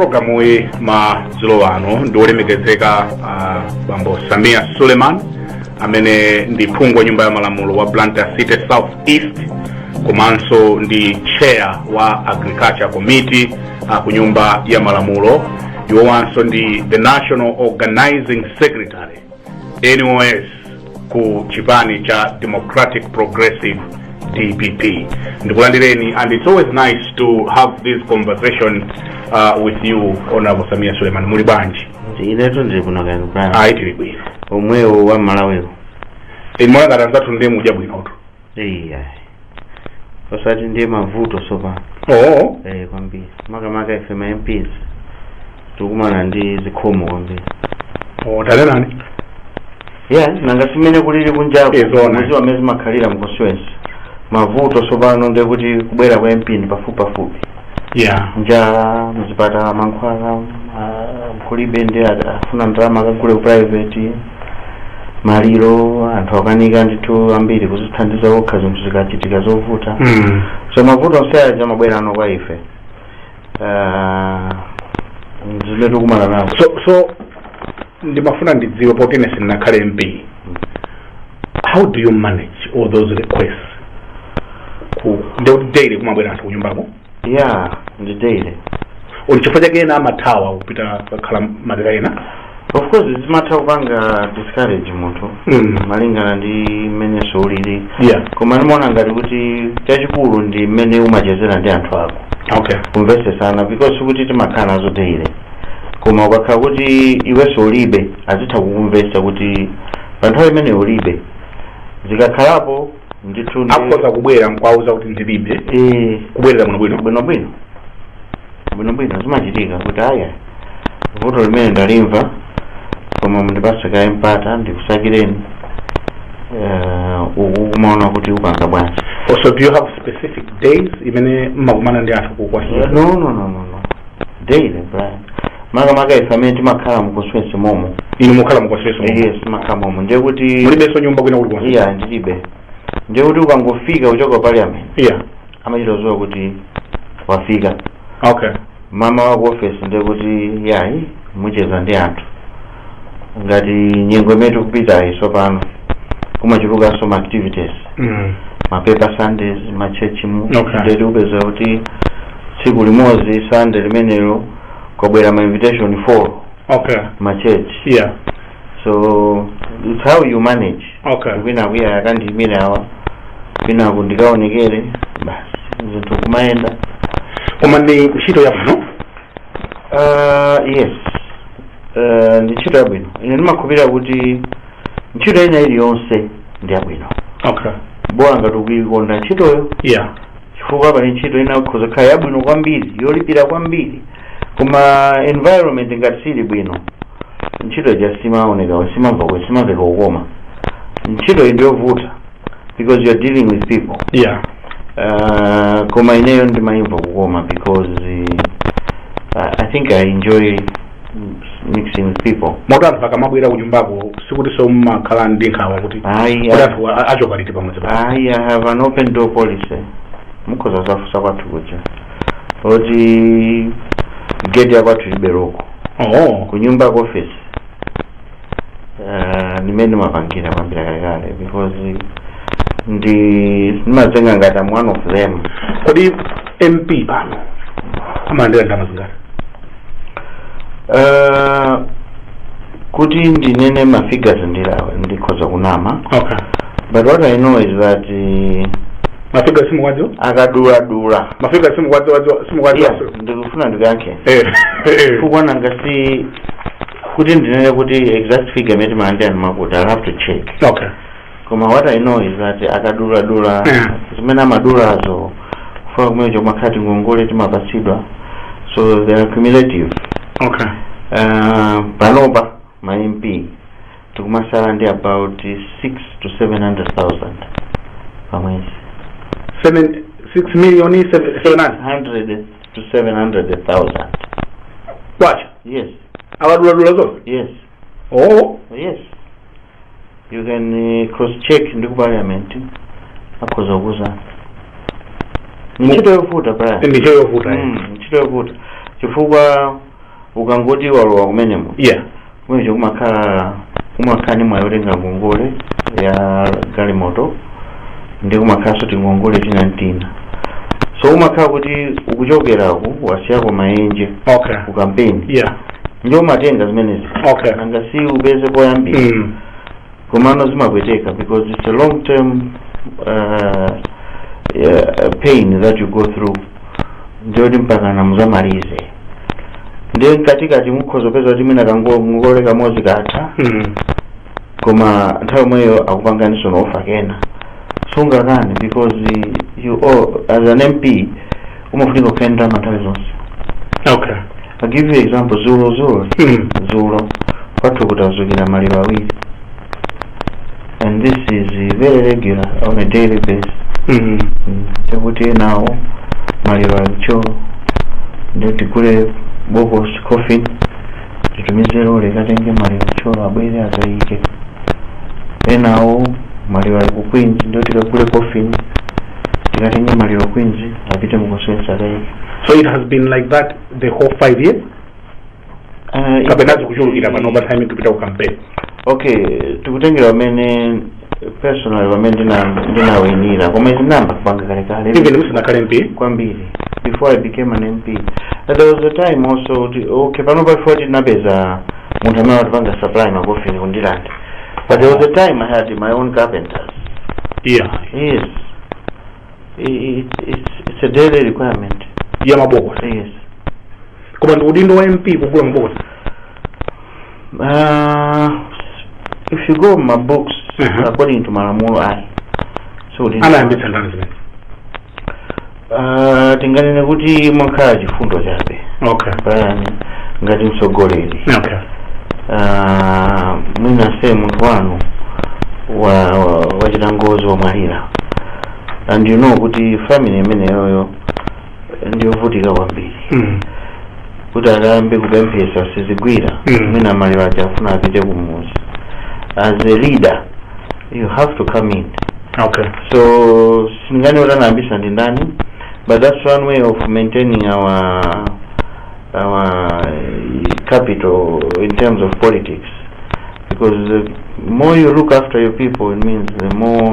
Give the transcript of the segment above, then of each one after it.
Programu yi madzulo ano ndi wolemekezeka uh, bambo Samia Suleiman amene ndi phungu wa nyumba ya malamulo wa Blantyre City South East komanso ndi chair wa Agriculture Committee uh, ku nyumba ya malamulo iwowanso ndi the National Organizing Secretary NOS ku chipani cha Democratic Progressive DPP. Ndikulandireni and it's always nice to have this conversation uh, with you Honorable Samia Suleiman. Muli bwanji? inetu ndili kuno kaya bwana Ayi tili bwino. omwewo a Malawiwo Inu ngati anzathu ndiye mudya bwinotu. iya osati ndiye mavuto tsopano oo eh kwambiri makamaka ife ma mps tikumana ndi zikhomo kwambiri oo tanenani ya nanga si mmene kulili kunjako Eh, zoona. muziwa amene zimakhalira m' constituency mavuto tsopano ndiye kuti kubwera kwa MP ndi pafupi pafupi ya njala mzipatala mankhwala ah, kulibe ndi a- afuna ndalama akagule ku private maliro anthu akanika ndithu ambiri kuzithandiza okha zinthu zikachitika zovuta Mm. so mavuto onse aja amabwera no kwa ife Ah, zimene tikumana nazo so ndimafuna ndidziwe poti ine sindinakhale mp how do you manage all those requests ndiye kuti daily kumabwera anthu kunyumbako ya ndi daily ndi chifukwa chake ena amathawa kupita kukakhala madera ena of course zimatha kupanga discourage munthu Mm. malingana ndi mmenenso ulili yeah koma ndimaona ngati kuti chachikulu ndi mmene umachezera ndi anthu ako okay kumvesesana because sikuti timakhala nazo daily koma ukakhala kuti iwenso ulibe azitha kukumvesa kuti pa nthawi imene ulibe zikakhalapo ndithu ndi- akhoza kubwera nkwauza kuti ndilibe Eh, kubwerera muno bwino bwino bwino bwino bwino zimachitika kuti aya vuto limeneli ndalimva koma mundipase kaye mpata ndikusakireni eh, uku kumaona kuti upanga bwanji oh so do you have specific days imene mmakumana ndi anthu ku constituency no no no no no daily Brian makamaka ife amene timakhala mu constituency momo inu mukhala mu constituency momo yes timakhala momo ndiye kuti mulibenso nyumba kwina kuli konse iya ndilibe ndiye kuti ukangofika kuchoka ku parliament iya amachita kuziwa kuti wafika okay mmawa wake ku office ndiye kuti yayi mucheza ndi anthu ngati nyengo imene tikupitayi tsopano kumachulukanso ma activities Mm. ma paper sundays ma church mu Okay. ndiye kuti upeza kuti tsiku limodzi sunday limenelo kwabwera ma invitation 4 okay ma church yeah so it's how you manage okay kwinako iyayi akandiyimire awa kwinako ndikaonekere basi zinthu kumayenda koma ndi ntchito yabwino Uh, yes uh, ndi ntchito yabwino ine ndimakhulupirira kuti ntchito ina iliyonse ndi yabwino okay bola ngati ukuikonda ntchitoyo yeah chifukwa pali ntchito ina ikhoza kukhala yabwino kwambiri yolipira kwambiri koma environment ngati sili bwino ntchito ija simaoneka sima simamveka kukoma ntchito iyi ndiyovuta because you are dealing with people yeah uh, koma ineyo ndimayimva kukoma because uh, I- i think i enjoy mm, mixing with people moti anthu akamabwera kunyumbako sikuti so mmakhala ndi nkhawa kuti ayi kuti I- anthu achoka liti pamodzi ayi i have an open door policy mukhoza zafusa kwathu kuja oti gate yakwathu liberoko oh kunyumba ku office Eh, ndimene ndimapangira kuyambira kalekale because ndimadzitenga ngati am one of them kodi mp pano amalandira ndalama zingati Eh, kuti ndinene ma figures ndikhoza kunama okay but what i know is that eh, ma figure simukuwadziwa akaduladula ma figure simukuwadziwa simukuwadziwa Yeah, ndikufuna ndikankhe eh eh. chifukwa nanga si kuti ndinene kuti exact figure imene timalandira ndimakuti i'll have to check okay koma what i know is that akaduladula Yeah. zimene amadulazo kufuna kumene kumakhala tingongole timapatsidwa so they are cumulative okay uh, panopa ma mp tikumatsala ndi about 6 to 700000 pamwezi seven six million seven seven hundred 100 to 700000 kwacha Yes. akaduladula zonse Yes. oh Yes. You can uh, cross check ndi ku parliament akhoza kukuuzani. Ndi ntchito yovuta Brian. ntchito yovuta eh. Mm, ntchito yovuta. Chifukwa ukangoti walowa kumenemo. yeah Mwenje kumakhala kumakhala ndi mwayi wotenga ngongole ya galimoto ndi kumakhalanso tingongole tina ndi tina so umakhala kuti ukuchokeraku wasiyako maenje okay ku kampeni yeah ndiye umatenga zimenezi Okay. nanga si upeze poyambira mm. komano zimapweteka because it's a long term uh, uh, pain that you go through ndiyoti mpaka muzamalize ndiye mkatikati mukhoza kupeza kuti mwina kangongole kamodzi katha mm. koma nthawi yomweyo akupanganinso na offer ndiye sungakane because you all as an mp umafunika kukhala ndi ndalama nthawi zonse okay i give you example dzulo dzulo Mm. dzulo kwathu kutadzukira maliro awiri and this is very regular on a daily basis Mm. Mm, chakuti enawo maliro alicho ndiye tigule bokosi coffin titumize lorry ikatenge maliro Thyolo abwere akaike enawo maliro ali ku queens ndiye tikagule coffin tikatenge maliro queens apite mu coffin akaike so it has been like that the whole five years Ah, kapena zikuchulukira pano pa time tikupita ku campaign okay tikutengera ineyo personal pamene ndina- ndinawinira koma tinayamba kupanga kalekale even musanakhale mp kwambiri before i became an mp that there was a time also kuti okay pano before tinapeza munthu amene amatipanga supply makofini ku Ndirande but there was a time i had my own carpenters yeah yes I- it's- it's- it's a daily requirement ya mabokosi yes koma ndi udindo wa mp kugula mabokosi uh, if you go by books Mhm. according to malamulo ayi so ndi- anayambitsa ndani zimene Ah, tinganene kuti mwakhala chifundo chabe okay pajatu ngati mtsogoleri okay Ah, mwina say munthu wanu wa- wa- wachita ngozi wamwalira and you know kuti family imeneyoyo ndiyovutika kwambiri Mm. kuti akayambe kupemphetsa sizigwira Mm. mwina maliro aja akufuna apite kumudzi as a leader you have to come in okay so sindinganene kuti anayambitsa ndi ndani but that's one way of maintaining our our capital in terms of politics because the more you look after your people it means the more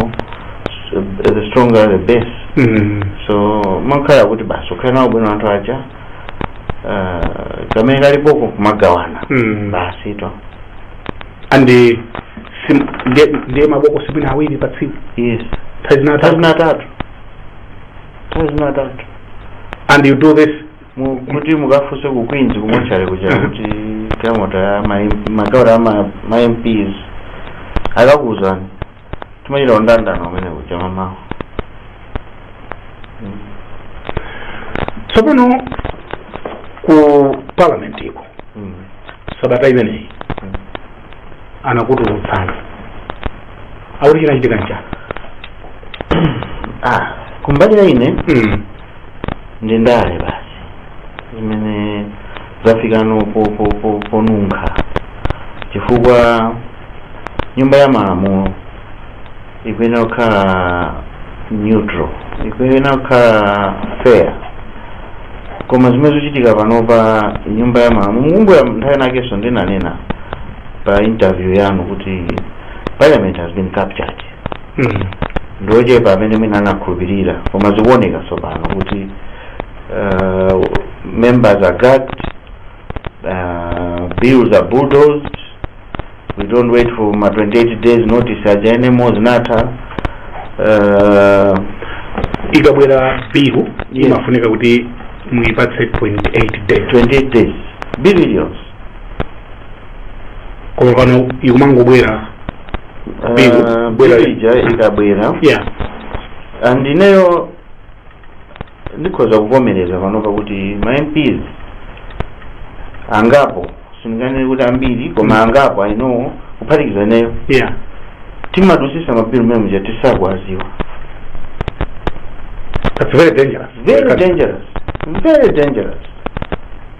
the stronger the base Mm. so umakhala kuti basi ukhale nawo bwino anthu aja uh, kamene kalipoko kumagawana Mm. basi to and eh, sim- ndi- ndiye mabokosi mwina awiri pa tsiku yes nthawi zina atatu nthawi zina atatu nthawi zina atatu and you do this Mu- kuti mukafunse ku queens ku mortuary kuja kuti galimoto ya ma- magawula ya ma- ma mps akakuwuzani timachita mndandanda umene kuja mamawa tsopano ku parliament iko Mm. sabata imeneyi Mm. anakutulutsani akuti chinachitika nchani ah kumbali ya ine mm. ndi ndale basi zimene zafikano po- po- po- ponunkha chifukwa nyumba ya malamulo ikuyenera kukhala neutral ikuyenera kukhala fair koma zimene zikuchitika panopa nyumba ya malamulo mukumbukira nthawi inakenso ndinanena pa interview yanu kuti parliament has been captured mm. ndi ochepa amene mwina anakhulupirira koma zikuoneka tsopano kuti uh, members are gagged uh, bills are bulldozed we don't wait for ma 28 days notice aja anymore zinatha uh, ikabwera bilu Yes. imafunika kuti muipatse 28 days 28 days bill iliyonse koma pano ikumangobwera Bill, Ah, bwera- bill ija ikabwera yeah and ineyo ndikhoza kuvomereza panopa kuti ma mps angapo sindinganene kuti ambiri koma Mm. angapo i know kuphatikiza ineyo yeah timadusisa mabilu mmene muja tisakuwaziwa that's very dangerous very dangerous very dangerous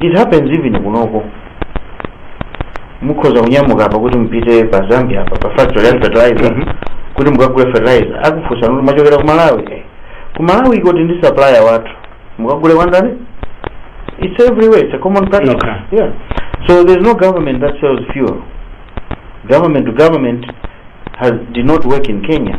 It happens even kunoko. Mukhoza kunyamuka apa kuti mpite pa Zambia apa pa factory ya fertilizer Mhm. kuti mukagule fertilizer akufunsani kuti mwachokera ku Malawi. Eh, Ku Malawiko tili ndi supplier wathu. Mukagule kwa ndani? It's everywhere. It's a common practice. Okay. Yeah. So there's no government that sells fuel. Government to government has did not work in Kenya.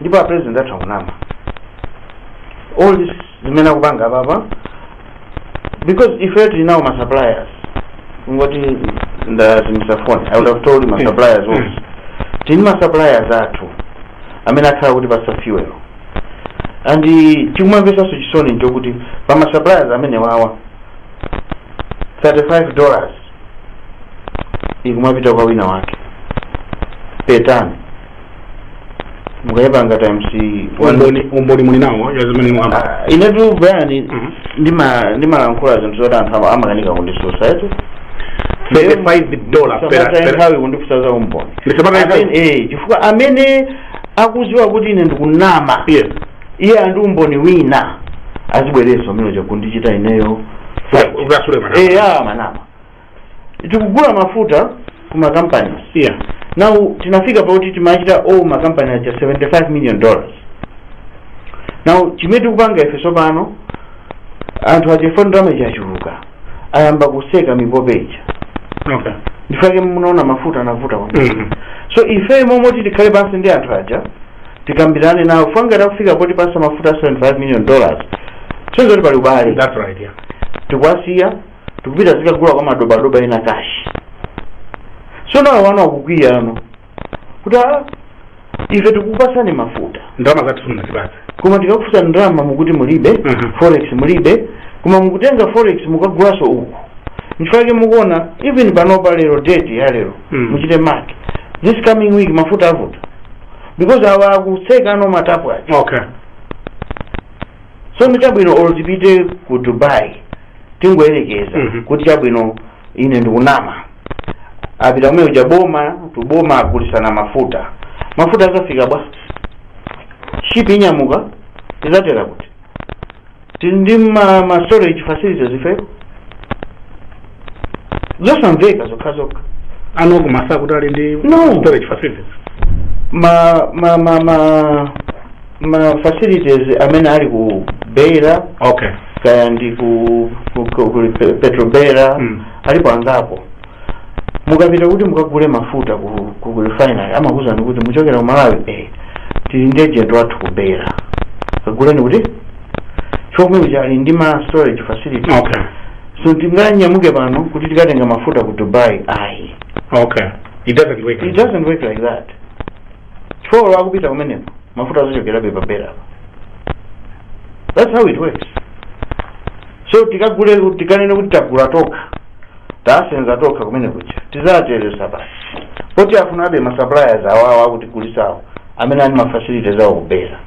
ndipo a president athu akunama all this zimene akupanga apapa because ife tili nawo ma suppliers kungoti ndazimisa phone i would have told ma suppliers also tili ndi ma suppliers athu amene akhala akutipasa fuel and chikumamvesanso chisoni nchokuti pa ma suppliers amenewawa 35 dollars ikumapita kwa wina wake per ton mukayipanga times one- umboni umboni muli nawo wa zimene mwakamba Ah, inetu Brian Mhm. ndima- ndimalankhula zinthu zoti anthu ama- amakanika kundisusa eti 35 dollar per- Musataye per- nthawi kundifusa za umboni Ndisataye nthawi? Amene- eh, chifukwa amene akuziwa kuti ine ndikunama yes iye ali ndi umboni wina azibwerenso amene uja kundichita ineyo ukasule mwanama eya mwanama tikugula mafuta ku makampani yeah now tinafika pakuti timachita owe makampani aja 75 million dollars now chimene tikupanga ife tsopano anthu aja ife ndalama ija yachuluka ayamba kutseka mipope ija okay nchifukwa chake munaona mafuta anavuta kwambiri Mhm. so ife m'malo moti tikhale pansi ndi anthu aja tikambirane nawo fanga tafika poti pasa mafuta 75 million dollars zoonetsa kuti pali ubale that's right yeah tikuwasiya tikupita kukagula kwa madobadoba ena kashi so now awa akukwiya ano kuti "Ah, ife tikukupasani mafuta ndalama zathu simunatipatse koma tikakufunsa ndalama mukuti mulibe Mhm. forex mulibe koma mukutenga forex mukagulaso uku nchifukwa chake mukuona even panopa lero date ya lero Mm. muchite mark this coming week mafuta avuta because awa akutseka ano matapu aja okay so nchabwino olo tipite ku dubai tingoyerekeza Mhm. kuti chabwino ine ndikunama apita kumene kuja boma to boma agulisana mafuta mafuta azafika bwa shipi inyamuka izatera kuti tili ndi ma, ma storage facilities ifeko zosamveka zokha zokha anakumasa kuti ali ndi No. storage facilities ma ma ma ma ma facilities amene ali ku beira okay kaya ndi ku, ku, ku, ku Pe- petrobeira Mm. alipo angapo mukapita kuti mukagule mafuta ku, ku, ku refinery amakuuzani kuti muchokera ku malawi eh, tili ndi agent wathu ku beira kaguleni kutichomwe uja ali ndi ma storage facility okay so tinganyamuke pano kuti tikatenga mafuta ku dubai ayi okay it doesn't work it doesn't work like that Chifukwa olo akupita kumeneko, mafuta azachokerabe pa Beira apa. That's how it works. So tikagule kuti- tikanene kuti tagula tokha, tasenza tokha kumene kuja, tizateresa basi. Poti afunabe ma suppliers awawa akutigulitsawo, amene ali ma facilities awo ku Beira.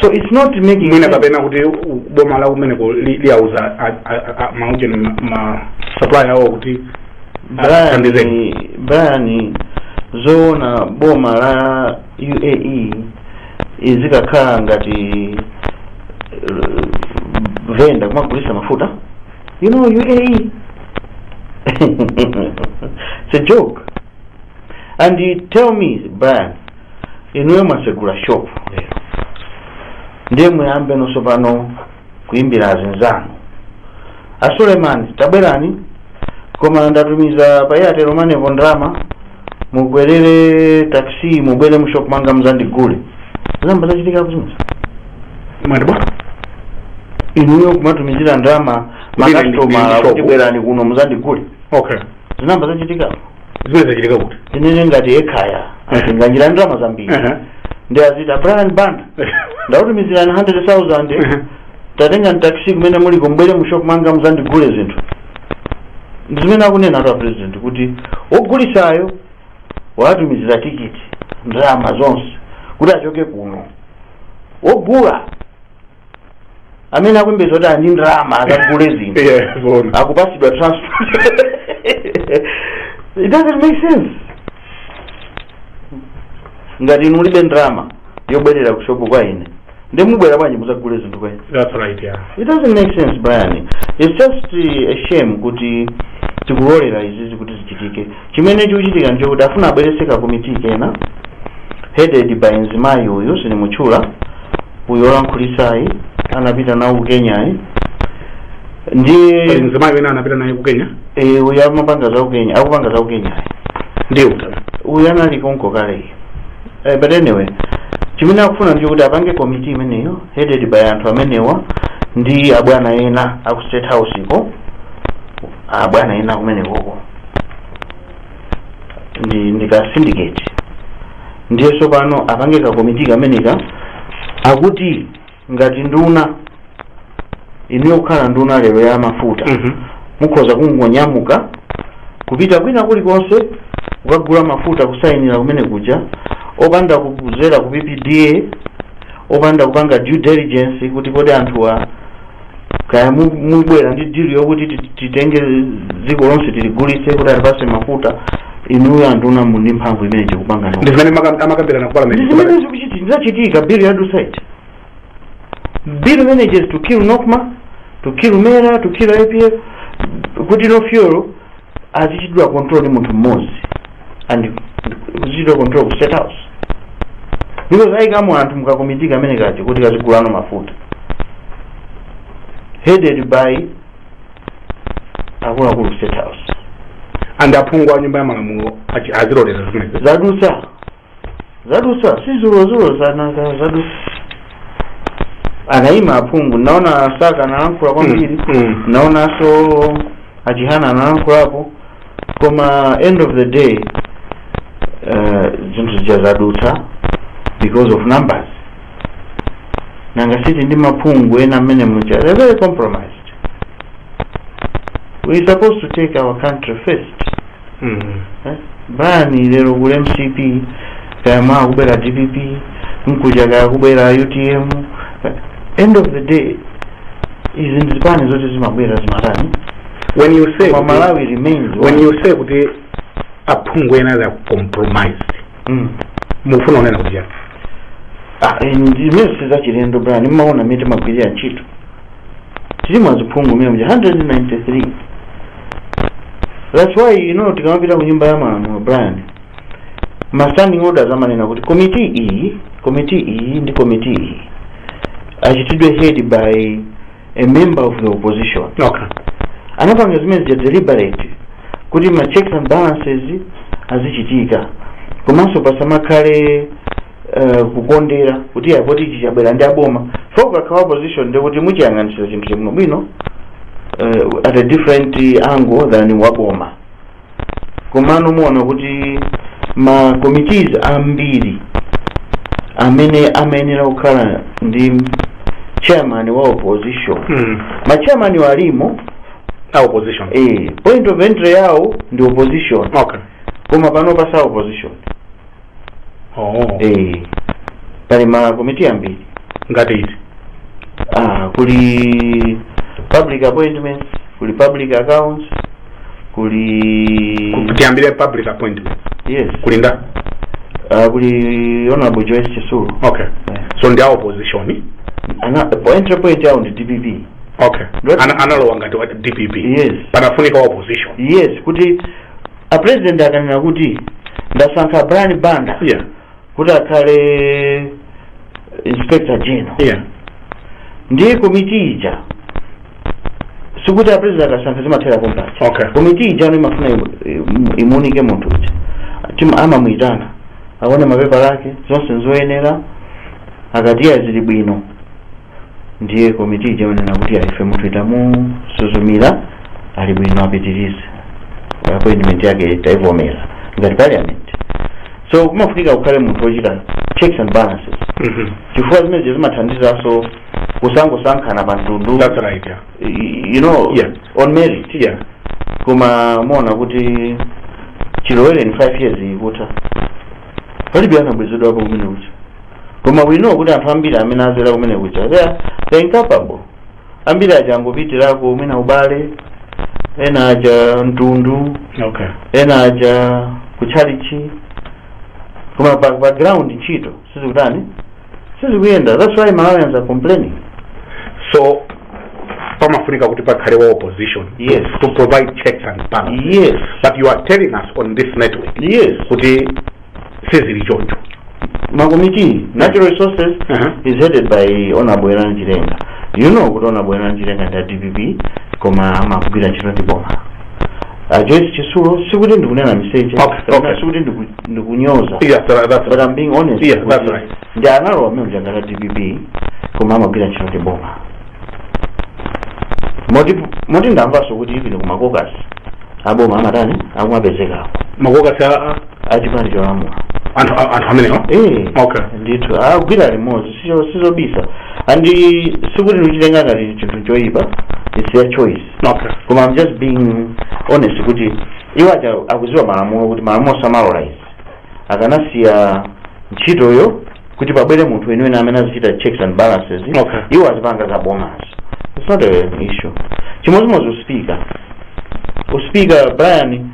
So it's not making mwina sense. kapena kuti u- boma la kumeneko li- liwauza a- a- a- maujeni ma supply awo kuti Athandizeni. brian zoona boma la uae izikakhala ngati eh, venda kumagulisa mafuta you know uae it's a joke and you tell me brian inuyo mwatsegula shop lero ndiye muyambe nonso pompano kuimbira azinzanu a suleiman tabwerani koma ndatumiza pa airtel money po ndalama mukwerere taxi mubwere mushop mwanga muzandigule zinayamba zachitika kuzimuza mwati bwa inuyo kumatumizira ndalama Kubwera ndi- ndi makasitomala shop. kuti bwerani kuno muzandigule okay zinamba zachitikapo zimene zachitika kuti tinene ngati ekhaya Mhm. atinganjira ndalama zambiri Aha. ndi azita brian banda ndakutumizirani 100000 Aha. tatengani taxi kumene muliko mubwere mu shop manga muzandigule zinthu ndi zimene akunenatu apresident kuti wogulisayo watumizira tikiti ndalama zonse kuti achoke kuno wogula amene akuyembekeza kuti ali ndi ndalama akagule zinthu Yeah, zoona. akupasidwa transport it doesn't make sense ngati inu mulibe ndalama yobwerera ku shopu kwa ine nde mubwera bwanji muzagule zinthu kwa ine That's right, yeah. it doesn't make sense brian it's just uh, a shame kuti tikulolera izizi kuti zichitike Chimene chikuchitika nchokuti afuna abweretse ka committee kena headed by mzimayi uyu sindimutchula uyu olankhulitsayi anapita nawo ku Kenyayi ndiye pali mzimayi wina anapita naye ku kenya eh, uyu amapanga za ku Kenya akupanga za ku Kenyayi ndiye utana uyu anali konko kale eh, but anyway chimene akufuna ndi kuti apange komiti imeneyo headed by anthu amenewa ndi abwana ena aku state house ko abwana ena kumenekoko ndi ndi ka syndicate ndiye tsopano apange ka komiti kameneka akuti ngati nduna inuyo kukhala nduna lero ya mafuta Mhm. mukhoza kungonyamuka kupita kwina kulikonse kukagula mafuta kusayinira kumene kuja opanda kuzera ku ppda opanda kupanga due diligence kuti kodi anthuwa kaya mu- mubwera ndi dili yokuti ti- titenge dziko lonse tiligulitse kuti atipase mafuta inuyo anduna muli ndi mphamvu imeneyo kupangano ndi zimene maka- amakambirana ku parliament ndizimene zikuchitika ndi zachitika bill ya dusaiti bill imeneje is to kill nokma to kill mera to kill apf kuti no fuel azichitidwa control ndi munthu mmodzi and kuzichitidwa control ku state house because ayikamo anthu mukakomiti kamene kaja kuti kazigulano mafuta headed by akuluakulu state house and aphungu a nyumba ya malamulo achi- azilolera zimenezo zadutsa zadutsa si dzulo dzulo masana zadutsa anayima aphungu ndaona a Saka analankhula kwambiri Mm. ndaonanso aChihana analankhulapo koma end of the day eh, zinthu zija zadutsa because of numbers nanga siti ndi aphungu ena amene muja they're very compromised we supposed to take our country first brian lero kuli mcp kaya mawa kubwera dpp mkuja kaya kubwera utm end of the day izi ndi zipani zoti zimabwera zimatani when you say koma kuti- malawi remains when one. you say kuti aphungu ena they are compromised Mm. mufuna unena kuti chani Ah, eh, ndi- zimene sizachilendo brian mmaona mmene timagwirira ntchito tili ma aphungu mmene muja 193 that's why you know tikamapita ku nyumba ya malamulo brian ma standing orders amanena kuti komiti iyi komiti iyi ndi komiti iyi ichitidwe head by a member of the opposition okay anapanga zimene zija deliberate kuti ma checks and balances azichitika komanso pasamakhale eh, kukondera kuti ya poti ichi chabwera ndi aboma so ukakhala opposition ndi kuti muchiyang'anitsira chinthu chabwino bwino eh, at a different angle than waboma komano muona kuti ma committees ambiri amene amayenera kukhala ndi chairman wa opposition Mm. ma chairman walimo A opposition. eh, point of entry yawo ndi opposition Okay. koma pano si a opposition oh. eh, pali makomiti ambiri ngati iti ah, kuli public appointments kuli public accounts kuli tiyambire public appointment yes kuli ndani ah, kuli honorable joyce chitsulo okay Eh. so ndi a opposition Ana- po- entry point yao ndi dpp okay Ndoti- Ana- analowa ngati wa dpp Yes. panafunika wa opposition yes kuti a president akanena kuti ndasankha brian banda yeah kuti akhale inspector general yeah ndiye komiti ija sikuti a president akasankha zimathera pompaja Okay. komiti ija no imafuna imu- imu- imuunike munthu uja Tim- amamuyitana aone mapepala ake zonse nzoyenera akati ya zili bwino ndiye komiti ija imanena kuti "Ah, ife munthuyi tamusuzumira ali bwino apitirize appointment yake taivomera ngati parliament so kumafunika kukhale munthu wochita checks and balances Mhm. chifukwa zimenezo zimathandizanso kusangosankhana pa mtundu That's right. Yeah. y- you know Yeah. on merit Yeah. koma muona kuti chilowereni 5 years ikutha palibe anabwezedwapo kumene kuti koma we know kuti anthu ambiri amene azera kumene kuja they are they are incapable ambiri aja angopitirako mwina ubale ena aja mtundu okay ena aja kutchalichi koma pa, pa ground ntchito sizikutani sizikuyenda that's why malawians are complaining so pamafunika kuti pakhale wa opposition Yes. to, to provide checks and balances yes but you are telling us on this network yes kuti sizili choncho makomiti natural resources Aha. is headed by honorable werani chilenga you know kuti honorable werani chilenga ndi a dpp koma amagwira ntchito ndi boma a joyce chitsulo sikuti ndikunena miseche Okay, kapena okay. sikuti ndiku- ndikunyoza yeah that, that's but I'm being honest Yeah, that's kuti right. ndi honorable member mnzanga wa dpp koma amagwira ntchito ndi boma moti moti ndamvanso kuti even ku makokasi aboma amatani akumapezekako makokasi a- a- achipani cholamula anthu a- anthu amenewa Eh, Okay. ndithu agwira limodzi sicho- sizobisa and sikuti ndikuchitenga ngati chinthu choyipa its their choice okay koma i'm just being honest kuti iwo aja akuziwa malamulo kuti malamulo samalola izi akanasiya ntchitoyo kuti pabwere munthu weniweni amene azichita checks and balances Okay. iwo azipanga za bomazo it's not an issue chimodzimodzi uspika uspika brian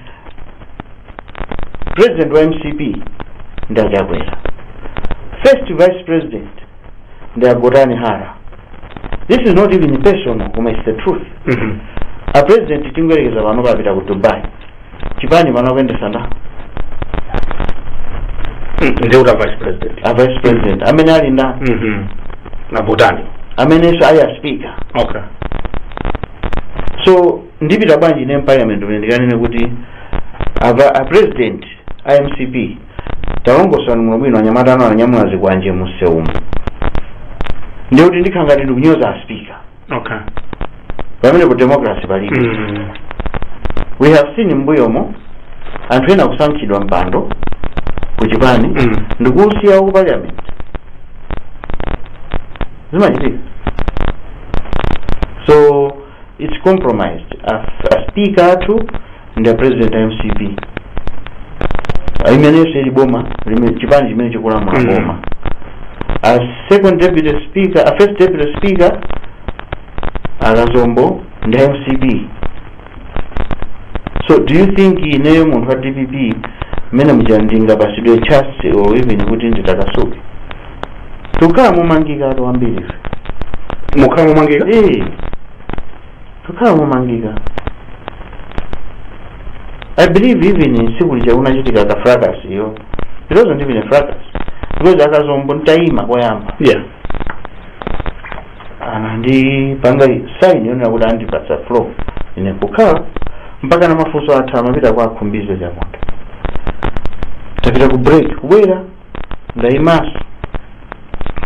president wa mcp ndi achakwera first vice president ndi agotani hara this is not even personal koma it's the truth Mhm. a president tingoyerekeza pano apita ku dubai chipani pano akuyendesa nda nde kuti a vice president a vice president amene ali nda Mhm. ndi agotani amenenso ali a speaker okay so ndipita bwanji ine m'parliament mene ndikanene kuti awa a president a mcp talongosani muno bwino anyamata anu ananyamula zikwanje mumsewumu ndiye kuti ndikhala ngati ndikunyoza a speaker okay pamene ku democracy palibe mm. we have seen m'mbuyomo anthu ena kusankhidwa mpando ku chipani Mm. ndikusiya ku parliament zimachitika so it's compromised As- aspeaker athu ndi a president a mcp imenenso ili boma lime- chipani chimene chikulamula Mm. boma a second deputy speaker a first deputy speaker akazombo ndi a mcp so do you think ineyo munthu wa dpp mmene muja ndingapasidwe chance or even kuti nditakasuke tukhala momangikatu ambiri ife mukhala momangika eh kukhala momangika i believe even tsiku lija kunachitika ka fracas iyo it wasn't even a fracas because akazombo ntayima koyamba anandipanga sign yonena kuti andipatsa floor ine kukhala mpaka na mafunso atha amapita kwa a Khumbize Chiponda tapita ku break kubwera ndaimaso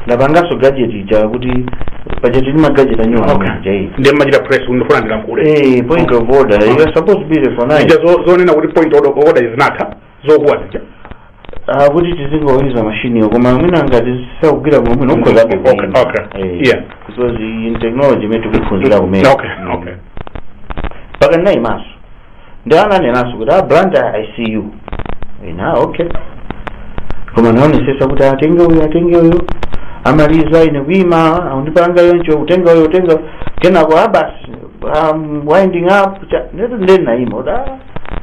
ndapangaso gadget ija kuti paja tili ndi ma gadget anyuwani aja. Okay. Ndiye umachita press kuti ndifuna ndilankhule Eh, point of order you are supposed to be recognized zo- zonena kuti point of order zinatha zokuwa zija Ah, kuti tizingouza mashiniyo koma mwina ngati sakugwira bwino bwino ukhoza Okay, kukuimba. okay. Eh, Yeah. because ndi technology imene tikuphunzira kumene okay okay mpaka ndinayimaso ndiye ananenanso kuti a Blantyre I see you okay koma ndinaonesesa kuti atenga uyu atenga uyu amaliza ine kuima akundipanga yoncho kutenga uyu kutenga kenako abasi um, winding up cha- nde ndinaima order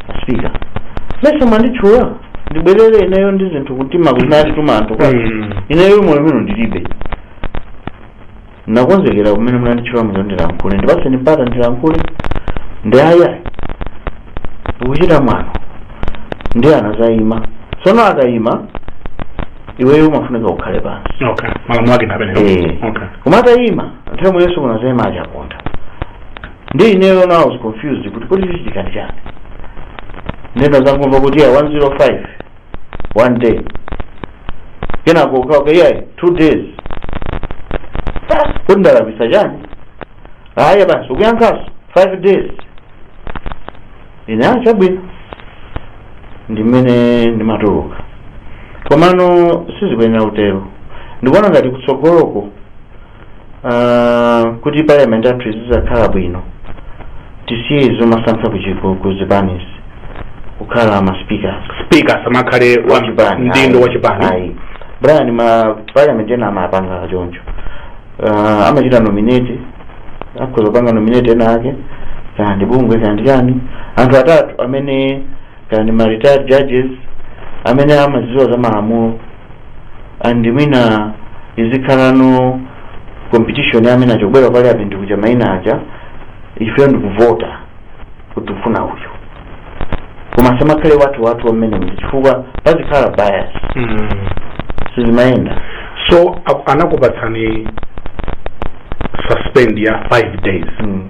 a sipika mesa mwanditchula ndibwerere ineyo ndili ndi zinthu kumtima zimene anatituma anthu kwa Mm. ineyo moyo mino ndilibe Ndakonzekera kumene munanditchulamo kuti ndilankhule. Ndipatseni mpata ndilankhule. Ndi ayi ayi. Ukuchita mwano. Ndiye anazayima. Tsono akayima, iweyo umafunika ukhale pansi. Okay. Malamulo ake ndi amenewo. Eh. Okay. Koma atayima, nthawi imwenso kunazayima achaponda. Ndi ineyo now I was confused kuti kodi chichitika ndi chani. Nde ndinazangomva kuti a 105 one day kenako ukakana iyayi two days kuti ndalakwisa chani aya basi ukuyankhaso five days ine aya chabwino ndimene ndimatuluka komano sizikuyenera kutero ndikuona ngati kutsogoloko Ah, kuti parliament yathu izizakhala bwino tisiye zomasankha ku zipanizi kukhala ma speakers speaker asamakhale pa udindo wa chipani ayi brian ma parliament ena amapanga choncho uh, amachita nominate akhoza kupanga nominate ena ake kaya ndi bungwe kaya ndi chani anthu atatu amene kaya ndi ma retired judges amene amadziwa za malamulo and mwina izikhalano competition amene achita bwino apite ku maina aja ifeyo ndikuvota kuti tikufuna uyu koma asamakhale wathu wathu wa mmenemu chifukwa pazikhala bias Mm. sizimayenda so a- anakupatsani suspend ya 5 days mm.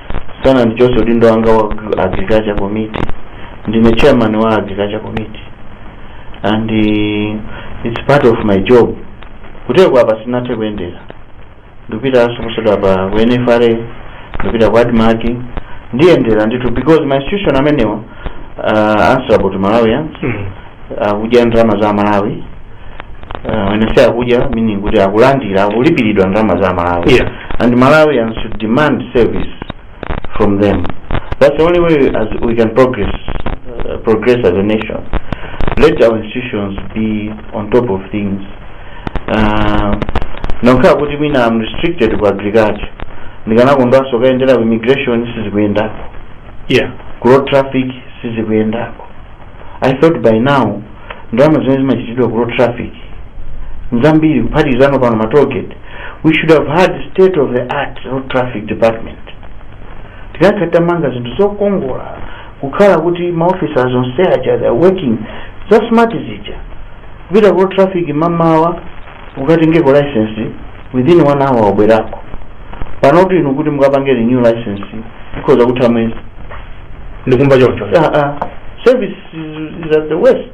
sanandichotse udindo wanga wa agri- agriculture committee ndine chairman wa agriculture committee and uh, it's part of my job kuteko apa sinathe kuyendera ndikupitaso posachedwapa ku nfra ndipita ku admarc ndiyendera ndithu because ma institution amenewa uh, answerable to malawians Mm. akudya ndalama za malawi uh, when i say akudya meaning kuti akulandira akulipiridwa ndalama za malawi Yeah. and malawians should demand service from them that's the only way as we can progress uh, progress as a nation let our institutions be on top of things uh, ngokhala kuti mwina am restricted ku agriculture ndikanakondwanso kukayendera ku immigration sizikuyendako yeah kuroad traffic sizikuyendako i thought by now ndalama zimene zimachitidwa kuroad traffic nzambiri kuphatikizano pano matolgate we should have had state of the art road traffic department tikadakhala titamanga zinthu zokongola kukhala kuti maofisi onse aja they are working za smart zija kupita kuroad traffic mamawa ukatengeko license within 1 hour wabwerako panotu inu kuti mukapange renew license pakhoza kutha mwezi ndikumva choncho Ah, ah. service is, is at the worst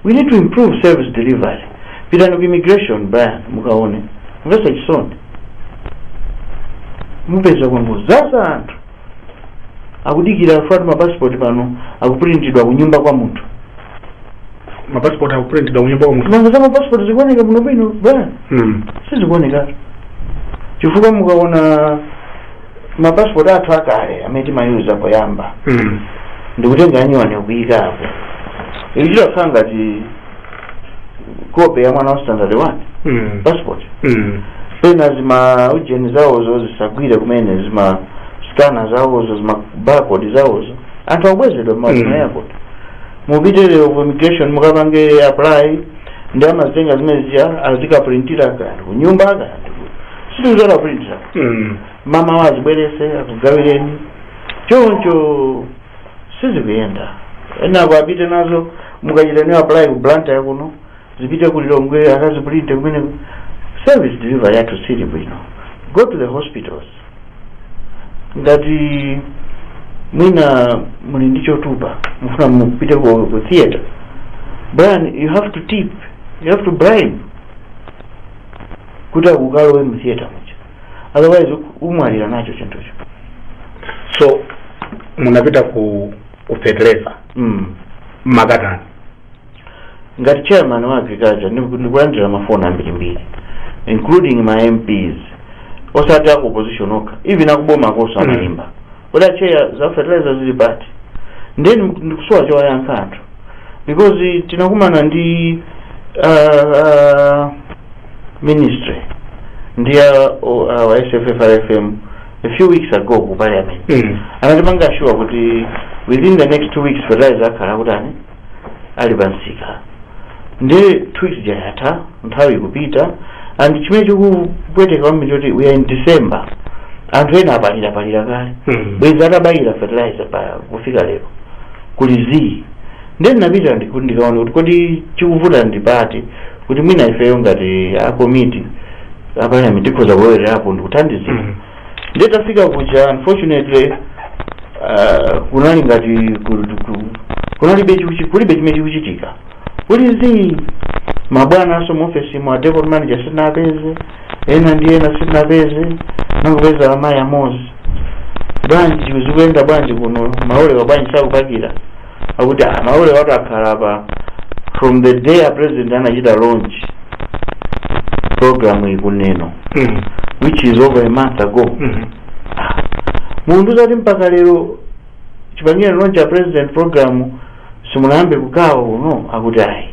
we need to improve service delivery pitani ku immigration brian mukaone zomvesa chisoni mupeza kwangodzaza anthu akudikira chifukwa ma passport pano akupulintidwa kunyumba kwa munthu ma passport akupulintidwa kunyumba kwa munthu nanga za ma passport zikuoneka bwino bwino brian mm. sizikuoneka chifukwa mukaona ma passport athu akale amene timayuza poyamba mm. ndikutenga anyuwani kuikapo ichi chakhala ngati kope ya mwana wa standard 1 Mm. passport Mm. pena zima ujeni zawozo zisagwire kumene zima skana zawozo zima barcode zawozo anthu akubwezedwa Mm. mmazima airport mupite lero ku immigration mukapange apply ndiye amazitenga zimenezija azikapulintira kanthu kunyumba kanthu situzora pulintira Mm. mamawa azibwerese akugawireni choncho sizikuyenda zinazo akuti apite nazo mukachita nayo apply ku blantyre kuno zipite ku lilongwe akazipulinte kumeneko service delivery yathu siili bwino go to the hospitals ngati mwina muli ndi chotupa mufuna mupite ku, ku theater brian you have to tip you have to bribe kuti akukalowe mu theater muja otherwise mumwalira nacho chinthucho so munapita ku ku fetereza mm. nkhani yake ngati chairman wa agriculture ndiku- ndikulandira mafoni ambirimbiri including ma mps osati aku opposition okha even akuboma akoso amaimba kuti a chair za fertilizer zili pati ndiye ndiku- ndikusowa chowayankha anthu because tinakumana ndi uh, uh, ministry ndi a, o- a, wa sffrfm a few weeks ago ku parliament Mm. anatipanga sure kuti within the next two weeks fertilizer akhala akutani ali pansika ndiye two weeks ija yatha nthawi ikupita and chimene chikupweteka kwambiri nchoti we are in december anthu ena apalira palira kale Mm. bwenzi atabayira fertilizer pa kufika lero kuli zii ndiye ndinapita ndiku- ndikaona kuti kodi chikuvuta ndi pati kuti mwina ifeyo ngati a komiti a parliament tikhoza kulowererapo ndikuthandizira Mhm. ndiye tafika kuja unfortunately uh, kunali ngati ku- ku- kunalibe chikuchi- kulibe chimene chikuchitika kuli zii mabwana aso mu office mwa depot manager sitinapeze ena ndi ena sitinapeze nangopeza amayi amozi bwanji zikuyenda bwanji kuno malolewa bwanji sakupakira akuti ah, malolewatu akhala apa from the day a president anachita launch program ikuneno Mm. which is over a month ago Mhm. mukufuna kuti mpaka lero chipangire launch a president program simunayambe kugawa kuno akuti ayi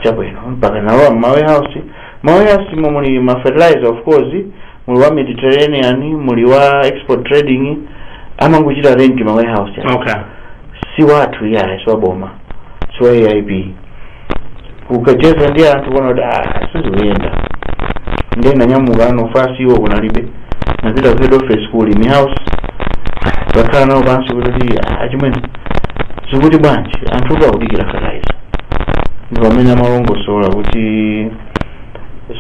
chabwino mpaka nalowa m'ma warehouse ma warehouse mo muli ma fertilizer of course muli wa mediterranean muli wa export trading amangochita rent ma warehouse aja. okay si wathu iyayi si waboma si wa aip ukacheza ndi anthu kuona kuti "Ah, sizikuyenda ndiye nanyamuka ano fasi iwo kunalibe napita ku head office ku ulimi house kakhala nawo pansi kuti "Ah, achimwene zikuti bwanji anthu akudikira fertilizer ndi pamene amalongosola kuti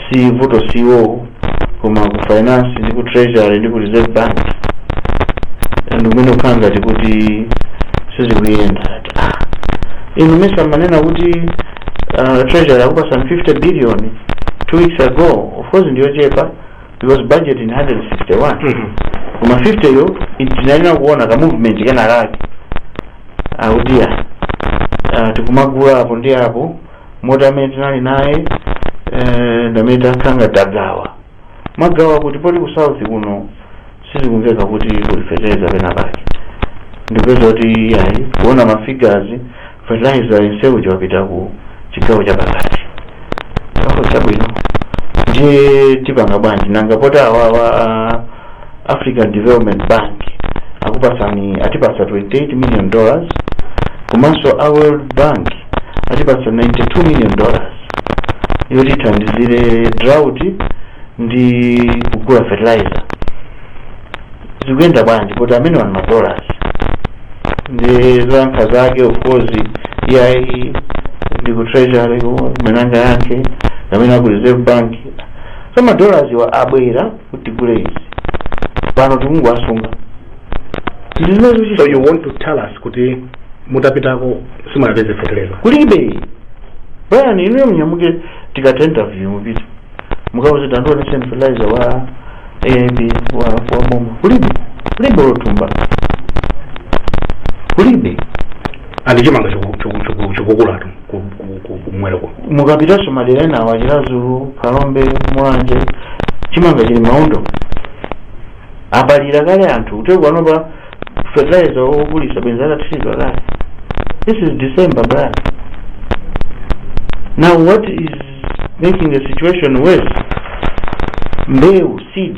si vuto si iwowo koma ku finance ndi ku treasury ndi ku reserve bank ndi kumene kukhala ngati kuti sizikuyenda ati ah inu mesa amanena kuti uh, treasury akupasani 50 billion two weeks ago of course ndiyochepa because budget ndi 161 Mhm. koma 50 yo tinayenera kuona ka movement kenakake akuti ya uh, tikumagula apo ndi apo moti amene tinali naye eh, ndamene tansanga tagawa magawa kuti poti ku south kuno sizikumveka kuti kuli fertilizer pena pake ndipeza kuti ayi kuona ma figures fertilizer yenseyu wapita ku chigawo cha pakati chakho chabwino ndiye tipanga bwanji nanga poti awawa African Development Bank akupatsani atipatsa 28 million dollars komanso a World Bank atipatsa 92 million dollars yoti ithandizire drought ndi kugula fertilizer zikuyenda bwanji poti amenewa ndi ma dollars ndi zoyankha zake of course iyayi ndi ku treasury kumenanga yake amene aku reserve bank so ma dollarswa abwera kuti tigule izi pano tikungowasunga tili nazo so chisa- you want to tell us kuti mutapitako simunapeze feteleza kulibe brian inuyo munyamuke tikata interview mupite mukauze tandionetseni fertilizer wa AIP wa wa boma kulibe kulibe lotumba kulibe and chimanga chikukulatu kumwera kuno mukapitanso madera ena awa chilazulu phalombe mulanje chimanga chili mmaondo apalira kale anthu kuti panopa fertilizer okulitsa bwenzi atathira kale this is december brian now what is making the situation worse mbewu seed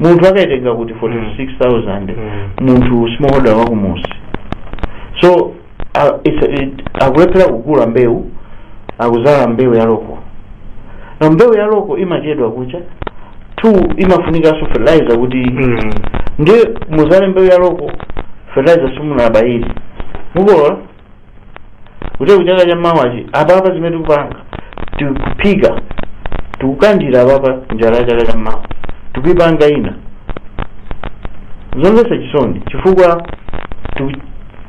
munthu akaitenga kuti 46000 Mm. munthu smallholder wakumudzi so uh, it's, it, akulephera kugula mbewu akudzala mbewu ya loko na mbewu ya loko imachedwa kucha two imafunikanso fertilizer kuti Mm. ndiye mudzale mbewu ya loko fertilizer simunabayire mukolola kuti kuchaka cha mawachi apapa zimene tikupanga tikuphika tikukandira apapa njala ya chaka cha mawa tikuipanga ife zomvetsa chisoni chifukwa tiku-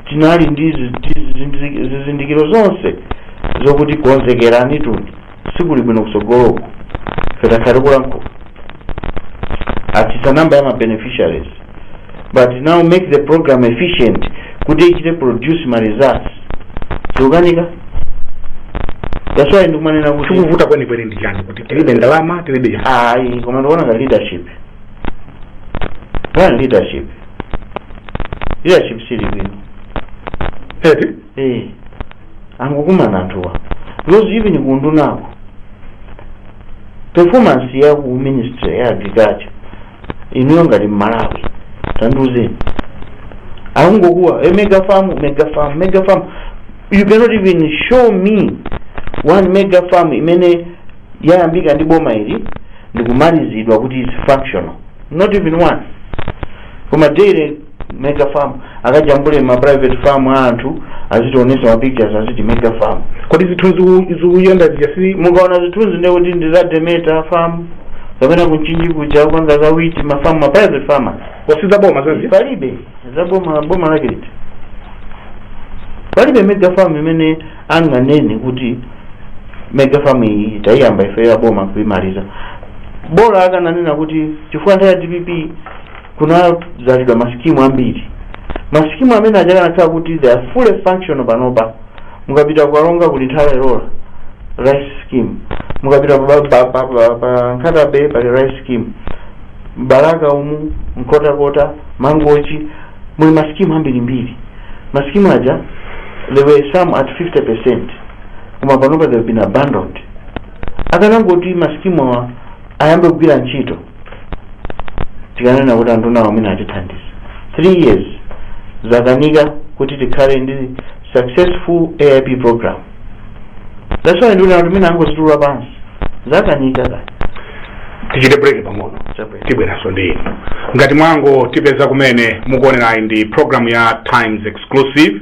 tinali ndi zi- zi- zi- zizindikiro zonse zokuti konzekerani zinthu sikuli bwino kutsogoloku ife takhala tikulankhula atsitsa namba ya ma beneficiaries but now make the program efficient kuti ichite produce ma results zikukanika that's why ndikumanena kuti chikuvuta kwenikweni ndi chani kuti tilibe ndalama tilibe chani ayi koma ndikuona ngati leadership one leadership leadership sili bwino eti eh angokumana anthuwa because even kundunako performance ya ku ministry ya agriculture inuyo ngati mmalawi tandiuzeni akungokuwa e mega farm mega farm mega farm you cannot even show me one mega farm imene yayambika ndi boma ili ndikumalizidwa kuti is functional not even one koma daily mega farm akajambule ma private farm a anthu azitionesa ma pictures aziti mega farm kodi zithunzi u- zikuyenda zija zija si mukaona zithunzi ndiye kuti ndi za demeta farm kapena ku Mchinji kuja kupanga za wheat ma farm ma private farmers osati za boma zazija palibe za boma boma lake liti palibe mega farm imene anganene kuti mega farm iyi tayiyamba ife ya boma kuimaliza bola akananena kuti chifukwa nthawi ya dpp kunadzalidwa masikimu ambiri masikimu amene aja akanakhala kuti they are fully functional panopa mukapita ku Karonga kuli Nthola rice scheme mukapita pa, pa, pa, pa, pa nkhata bay pali rice scheme m'Balaka umu Nkhotakota mangochi muli masikimu ambirimbiri masikimu aja there were some at 50 percent koma panopa they've been abandoned akanangoti masikimu awa ayambe kugwira ntchito tikanena kuti anthuwa ndi awo amene atithandiza 3 years zakanika kuti tikhale ndi successful aip program that's why nduna tikunena angozitula pansi zakanika ah tichite break pang'ono Chabwino. tibweranso ndi inu ngati mwangotipeza kumene mukuonerayi ndi program ya times exclusive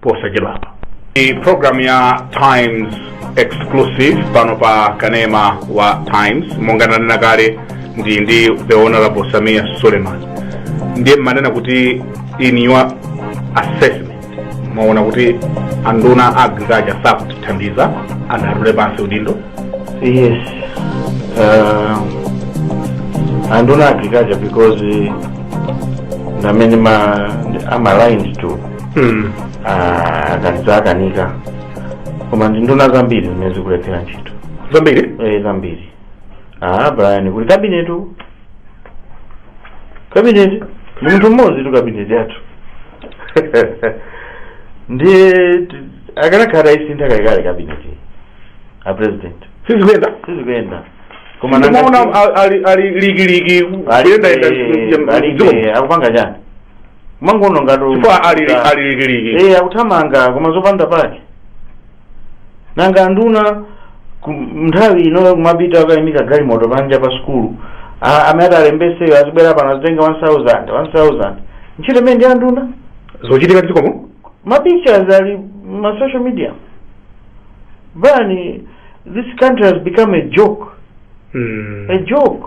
posachedwapa. Ndi program ya Times exclusive pano pa kanema wa Times monga ndanena kale ndili ndi the honorable Sameer Suleman ndiye mmanena kuti in your assessment mwaona kuti anduna agriculture sakutithandiza and atule pansi udindo Yes. Uh, anduna agriculture because uh, ndi amene ma, I'm aligned to Hmm. Ah, ngati zakanika koma ndi nduna zambiri zimene zikulephera ntchito zambiri eh zambiri ah brian kulibe kabineti kabineti ndi munthu mmodzitu kabineti yathu ndiye t- akanakhala ataisintha kalekale kabineti a president sizikuyenda sizikuyenda koma nanga- ndimaona ali likiliki Alibe- kuyendayenda alibe, akupanga chani mumangoona ngati chifukwa ali ali likiliki eh akuthamanga koma zopanda pake nanga anduna ku- nthawi inoyo kumapita akayimika galimoto panja pa sukulu A- amene atalembetseyo azibwera pano azitenga 1000 1000 ntchito imeneyo ndi ya nduna zochitika m'dzikomu ma pictures ali mma social media Brian this country has become a joke Mm. a joke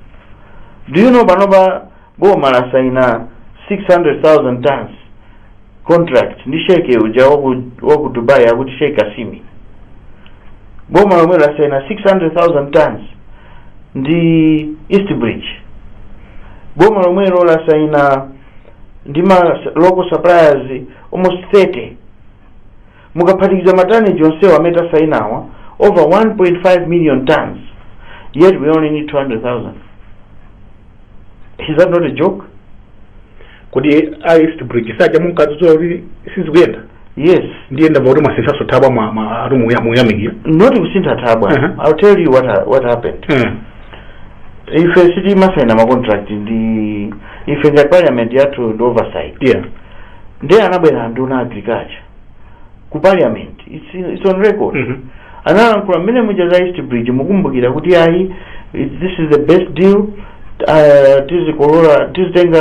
do you know panopa boma lasaina 600000 tons contract ndi sheke uja waku, waku dubai akuti sheke kasimi boma lomwelo lasaina 600000 tons ndi east bridge boma lomwelo lasaina ndi ma local suppliers almost 30 Mukaphatikiza ma tonnage onsewa amene tasainawa, over 1.5 million tonnes, yet we only need 200,000. Is that not a joke? kodi a east bridge saja munkadzudzula kuti sizikuyenda Yes. ndiye ndamva kuti mwasinthanso thabwa mwa- mwa- ati muya- muyamikira Not kusintha thabwa. Uh-huh. I'll tell you what, ha- what happened. Eh, Ife sitimasaina ma contract ife ngati parliament yathu ndi oversight. yeah Ndiye anabwera nduna ya agriculture. ku parliament it's, it's on record Mhm. analankhula mmene muja za east bridge mukumbukira kuti ayi it- this is the best deal uh, tizikolola tizitenga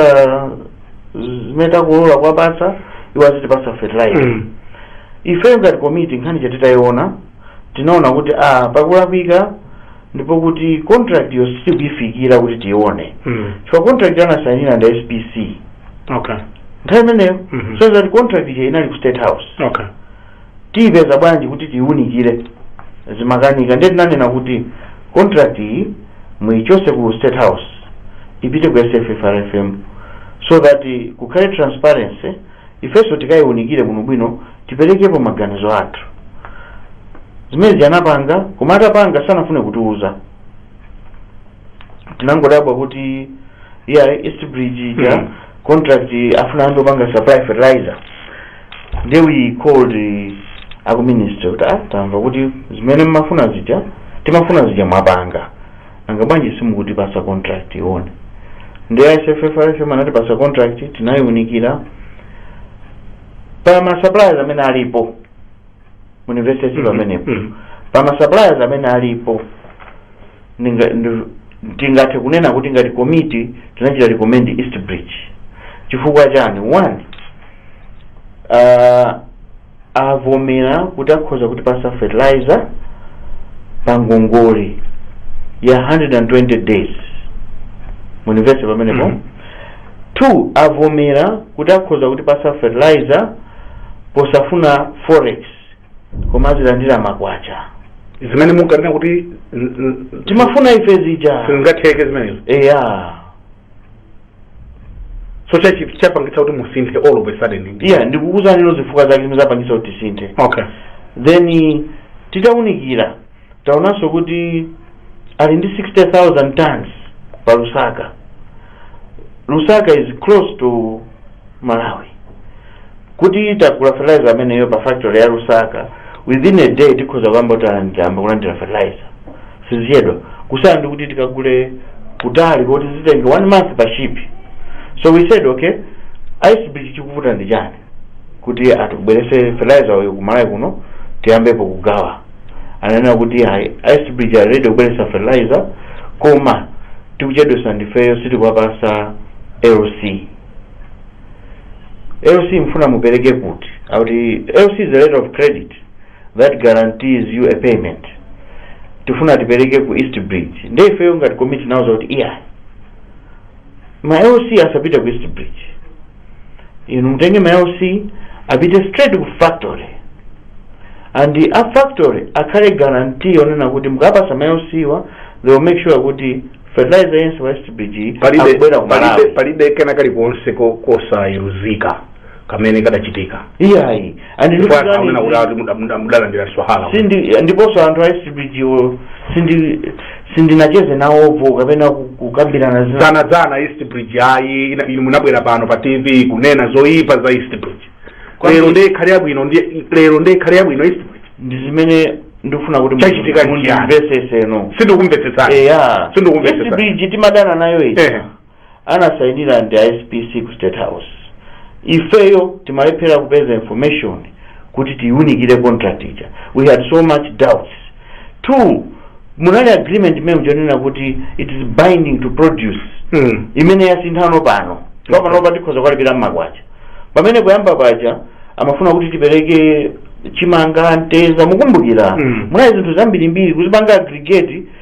zimene takolola kuwapatsa iwo azitipasa fertilizer Mm. ifeyo ngati komiti nkhani ija titayiona tinaona kuti a pakulakwika ndipo kuti contract yo sitikuyifikira kuti tione Mm. chifukwa contract anasayinira ndi a spc Okay. nthawi imeneyo Mhm. so that contract ija inali ku state house Okay. tiyipeza bwanji kuti tiyiunikire zimakanika ndiye tinanena kuti contract iyi muyichose ku state house ipite ku sffrfm so that eh, kukhale transparency ifenso tikayiunikire bwinobwino tiperekepo maganizo athu. Zimene zija anapanga, koma atapanga sanafune kutiuza. Tinangodabwa kuti iya East Bridge ija Mhm. contract afuna anthu opanga supply fertilizer. Then we called eh, aku minister kuti ah tamva kuti zimene mmafuna zija timafuna zija mwapanga. Nanga bwanji simukutipasa contract tione. Ndiye SFFRFM anatipasa contract tinayiunikira pa ma suppliers amene alipo mumvetsetse Mhm, amenepo mhm. pa ma suppliers amene alipo ndinga- ndi- tingathe kunena kuti ngati komiti tinachita recommend east bridge chifukwa chani one uh, avomera kuti akhoza kutipasa fertilizer pa ngongole ya 120 days mumvetsetse pamenepo Mhm. 2 avomera kuti akhoza kutipasa fertilizer posafuna forex koma azilandira makwacha zimene munkanena kuti n- n- timafuna ife zija sizingatheke zimenezo eya so chachi- chapangitsa kuti musinthe all of a sudden iya ndikukuuzani izo zifukwa zake zimene zapangitsa kuti tisinthe okay then titaunikira taonanso kuti ali ndi 60000 tons pa lusaka lusaka is close to malawi kuti tagula fertilizer ameneyo pa factory ya lusaka within a day tikhoza kuyamba kulandira kulandira fertilizer sizichedwa kusiyana ndi kuti tikagule kutali koti zitenge one month pa ship so we said okay east bridge chikuvuta ndi chani kuti atibweretse fertilizer uyu ku Malawi kuno tiyambepo kugawa ananena kuti ayi east bridge ali ready kubweretsa fertilizer koma tikuchedwetsa ndifeyo sitikuwapasa LC LC mufuna mupereke kuti akuti LC is a letter of credit that guarantees you a payment tifuna tipereke ku east bridge nde ifeyo ngati komiti tinawauza kuti iyayi ma LC asapite ku east bridge inu mutenge ma lc apite straight ku factory and a factory akhale guarantee yonena kuti mukapasa ma lc wa they will make sure kuti fertilizer yense wa east bridge akubwera ku malawi palibe kena kalikonse ko- kosayerekezeka kamene kadachitika iyayi And you Chifukwa know that akunena kuti is- ati muda- muda- mudalandira swahara sindi ndiponso anthu a East Bridge wo sindi sindinacheze nawopo kapena ku- kukambirana zina dzana dzana east bridge ayi ina- inu munabwera pano pa tv kunena zoyipa za east bridge Kwa lero nini? ndiye ikhale yabwino ndiye- lero ndiye ikhale yabwino east bridge ndi zimene ndikufuna kuti Chachitika ndi chiyani? mundimvesese no sindikumvetsetsani eya Sindikumvetsetsani. East Bridge timadana nayo ichi Ehe. anasainira ndi a SPC ku State House. Ifeyo timalephera kupeza information kuti tiunikire contract ija. We had so much doubts. Two, munali agreement imene ija yonena kuti it is binding to produce Mm. imene yasinthano pano panopa tikhoza kuwalipira mmakwacha pamene kuyamba paja amafuna kuti tipereke chimanga mtedza mukumbukira Mm. munali zinthu zambirimbiri kuzipanga aggregate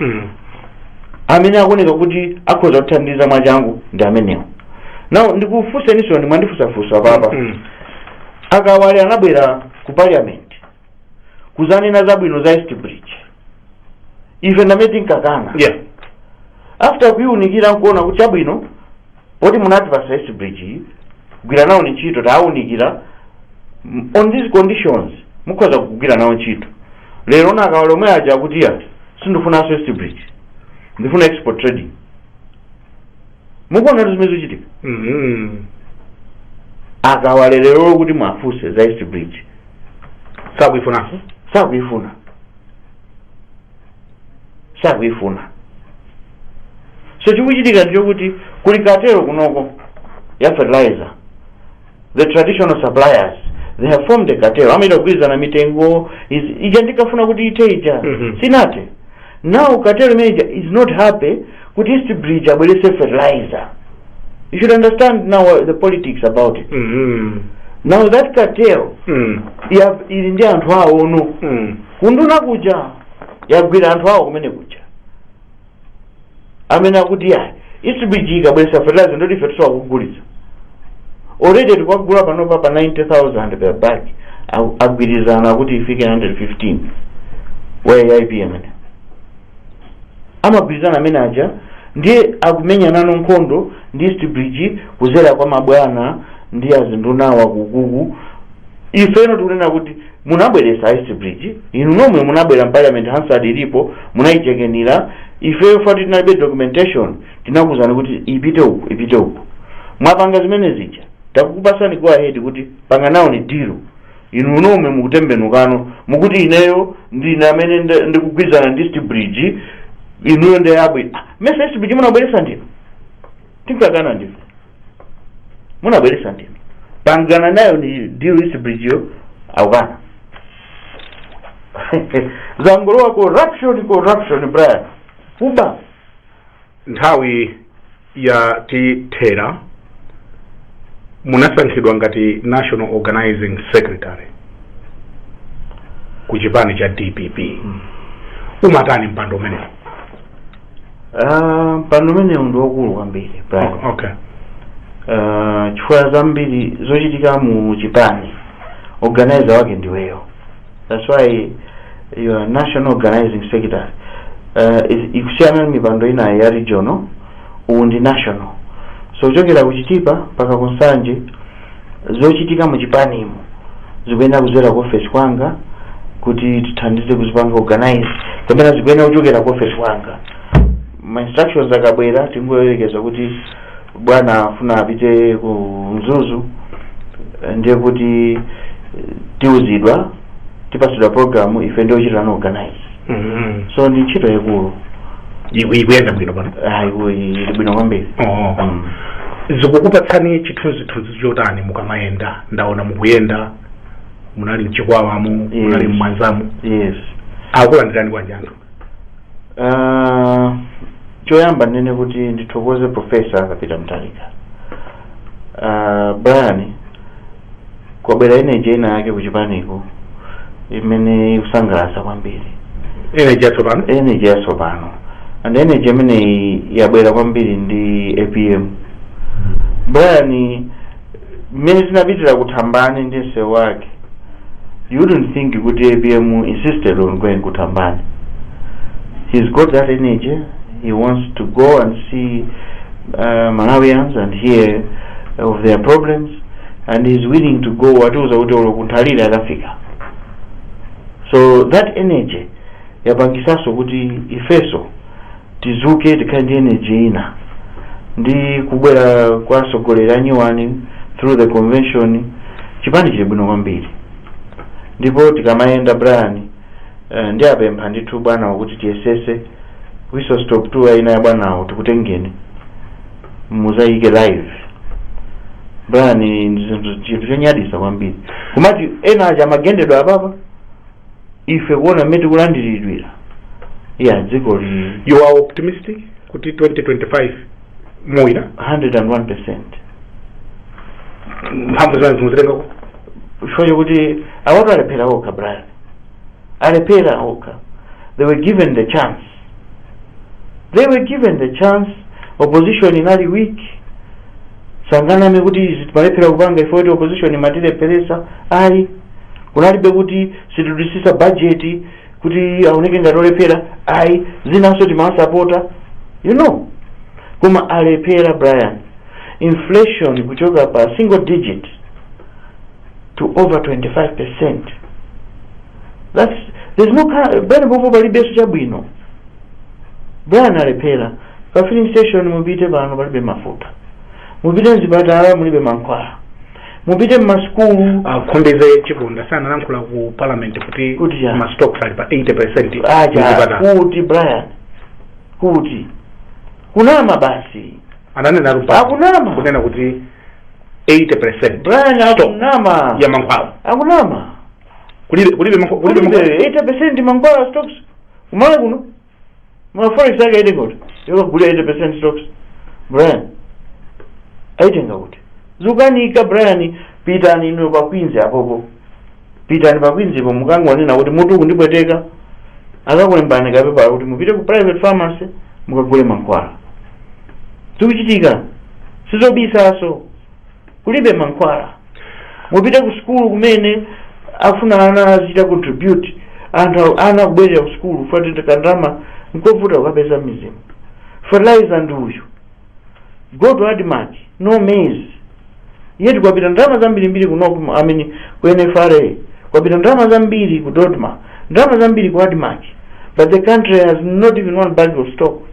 Mm. amene akuoneka kuti akhoza kuthandiza mwachangu ndi amenewo now ndikufunseniso inu mwandifunsafunsa apapa Mm. akawale anabwera ku parliament kuzanena zabwino za east bridge ife ndamene tinkakana Yeah. after kuiunikira nkuona kuti chabwino poti munati pa east bridge iyi gwira nawoni ntchito tawunikira m- on these conditions mukhoza kugwira nawo ntchito lero nakawala omwe aja akuti iyayi sindifunanso east bridge ndifuna export trading mukuona zimene zikuchitika Mhm. akawale lero kuti mwafunse za east bridge sakuifunanso sakuifuna sakuifuna so chikuchitika ndichokuti kuli cartel kunoko ya fertilizer the traditional suppliers they have formed a cartel amaita kugwirizana mitengo is- ija ndikafuna kuti ite ija Mhm. sinate now cartel imeneyi is not happy kuti east bridge abweretse fertilizer you should understand now uh, the politics about it Mhm. now that cartel Mm. ya- ili ndi anthu awono Mm. kunduna kuja yagwira anthu awo kumene kuja amene akuti ayi East Bridge ikabweretsa fertilizer ndoti ife tusowa kugulitsa already tikwagula panopa pa 90000 per bag Agu- agwirizana kuti ifike 115 wa ipm amagwirizana amene aja ndiye akumenya nano nkhondo ndi East Bridge kudzera kwa mabwana ndi azindunawa kukuku ifeno tikunena kuti munabweretsa East Bridge inu nomwe munabwera mparliament hansard ilipo munaichekenira ifeyo fati tinalibe documentation tinakuuzani kuti ipite uku ipite uku mwapanga zimene zija takukupasani go ahead kuti panga nawo ni deal inu nomwe mukutembenukano mukuti ineyo ndine amene nde- ndikugwirizana ndi east bridge inuyo ndeyabwino mesa east bridge munabweretsa ndinu tinkakana ndinu munabweretsa ndinu pangana nayo ni deal East Bridge yo akukana zangolowa corruption corruption Brian kuba nthawi ya tithera munasankhidwa ngati national organizing secretary ku chipani cha dpp umatani mpando umenewo Ah, mpando umenewu ndi wakulu kwambiri Brian. O- okay Ah, chifukwa zambiri zochitika mu chipani organizer wake ndiweyo that's why you are national organizing secretary uh, is- ikusiyana ndi mipando ina ya regional uwu ndi national so kuchokera ku Chitipa mpaka ku Nsanje Zochitika mu chipanimu zikuyenera kudzera ku ofesi kwanga kuti tithandize kuzipanga organize kapena zikuyenera kuchokera ku ofesi kwanga ma instructions akabwera tingoyerekeza kuti bwana afuna apite ku Mzuzu eh, ndiye kuti eh, tiuzidwa tipatsidwa program ife ndio chitano organize Mhm. so ndi ntchito yaikulu Iku- ikuyenda bwino pano ayiwo ili bwino kwambiri Oh. Mm. zikukupatsani chithunzithunzi chotani mukamayenda ndaona mukuyenda munali m'Chikwawamo Yes. munali m'Mwanzamo yes akulandirani bwanji anthu Ah, choyamba ndinene kuti ndithokoze profesa Peter Mutharika Ah, brian kwabwera energy ina yake kuchipaniko imene ikusangalatsa kwambiri energy yatsopano energy yatsopano and energy imeneyi yabwera kwambiri ndi apm brian mmene tinapitira ku Thambani ndi msewu wake you wouldn't think kuti apm insisted on going ku Thambani he's got that energy he wants to go and see uh, malawians and hear of their problems and he's willing to go watiuza kuti olo ku Nthalire akafika so that energy yapangisanso kuti ifeso tizuke tikhale ndi energy ina ndi kubwera kwa atsogoleri anyuwani through the convention chipani chili bwino kwambiri ndipo tikamayenda brian eh, ndiwapempha ndithu bwanawo kuti tiyesese whistle stop tour ina ya bwanawo tikutengeni muzayike live brian ndi zinthu- chinthu chonyadisa kwambiri kumati ena aja amagendedwa apapa ife kuona mmene tikulandiridwira ya dziko li you are optimistic kuti 2025 muwina 101 percent mphamvu zanu simuzitengako chifukwa chokuti awatu alephera okha brian alephera okha they were given the chance they were given the chance opposition inali weak sanganame kuti izi timalephera kupanga ife kuti opposition imatilepheresa ayi kunalibe kuti sitidutsitsa budget kuti aoneke ngati olephera ayi zinanso timawasapota you know koma alephera brian inflation kuchoka pa single digit to over 25 percent That's, there's no car, bwana pompo palibenso chabwino brian alephera pa filling station mupite pano palibe mafuta mupite mzipatala mulibe mankhwala mupite mmasukulu a Khumbize Chiponda analankhula ku parliament kuti Kuti chani? mastocks ali pa 80 percent acha kuti brian kuti kunama basi ananena lupa Akunama. kunena kuti 80 percent brian akunama ya mankhwala akunama kulibe kulibe mankhwa- kulibe mankhwa- kulibe 80% mankhwala stocks ku Malawi kuno forex yake ili kuti yokagulira 80% stocks brian aitenga kuti zukanika brian pitani inu pa Queens apopo pitani pa Queens-po mukangonena kuti mutu kundipweteka akakulembani kapepala kuti mupite ku private pharmacy mukagule mankhwala zikuchitika sizobisaso kulibe mankhwala mupite ku sukulu kumene afuna ana azichita contribute anthu awo- ana kubwerera ku sukulu chifukwa choti kandalama nkovuta kukapeza m'midzimu fertilizer ndi uyu go to admarc no maize yet kwapita ndalama zambirimbiri ku nocma amene ku nfra kwapita ndalama zambiri ku dodma ndalama zambiri ku admarc but the country has not even one bag of stock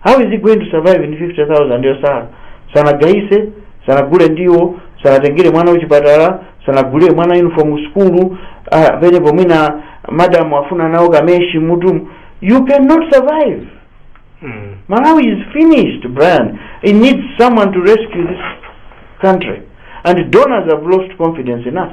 how is he going to survive ndi 50000 yosala sanagayise sanagule ndiwo sanatengere mwana kuchipatala sanagulire mwana uniform sukulu ah, penepo mwina madam afuna nawo kameshi m'mutu you cannot survive Mm. Malawi is finished, Brian. It needs someone to rescue this country. And donors have lost confidence in us.